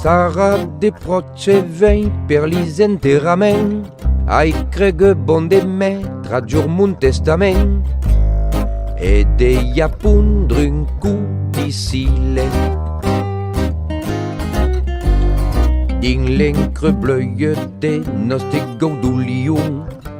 Sara de proche vei per lis enterrament Ai cregue bon de me tradur mon testament E de ja pondre un cou d'isile Dins l'encre bleuie de noste gau d'olion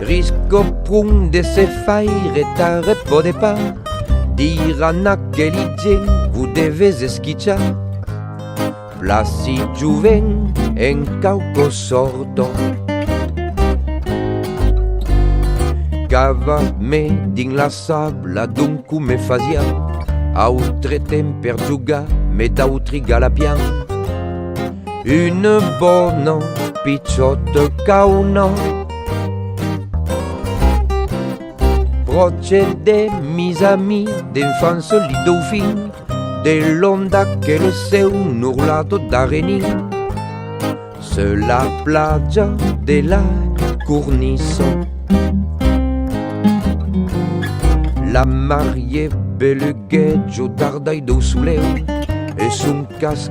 Risco pron de se faire ta repode pas Dir a n'aqueli gen vous devez esquichar Placi jovent en cauco sorto Cava me dins la sabla d'un cou me fasiá Autre temps per jugar me d'autri galapián Une bona pichòta cauna Pròche de mis amis d'enfance li daufin De l'onda que le seu nurlado d'arrenin Seu la plaja de la cornissa La marié beluguèt jo dardai dau soleu e son cas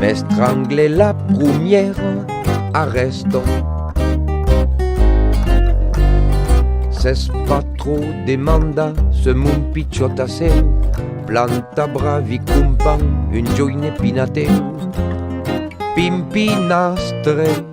M'estrangle la prumièra arrèsta S'es pas trop demanda se mon pichòt a seu Planta bravi compan un joine pinateu Pimpinastre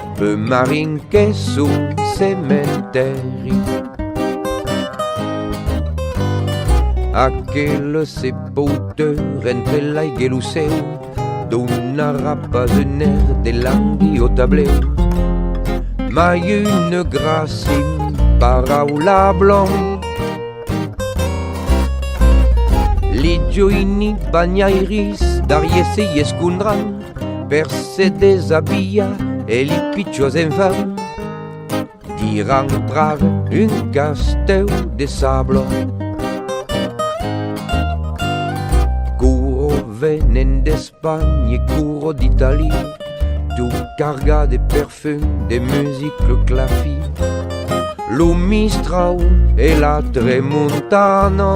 Peu marin que son cementèri Aquel se pouteur entre l'aigue e lo céu Donarà pas un air de langui au tableu Mai une gracim paraula blanc Li joini banhairis d'ariessi escondran per se desabillar e li pichos enfants d'ir entrar un casteu de sable. Curo venen d'Espanha e curo d'Italia, tu carga de perfum, de music, le clafi, lo mistrau e la tremontana.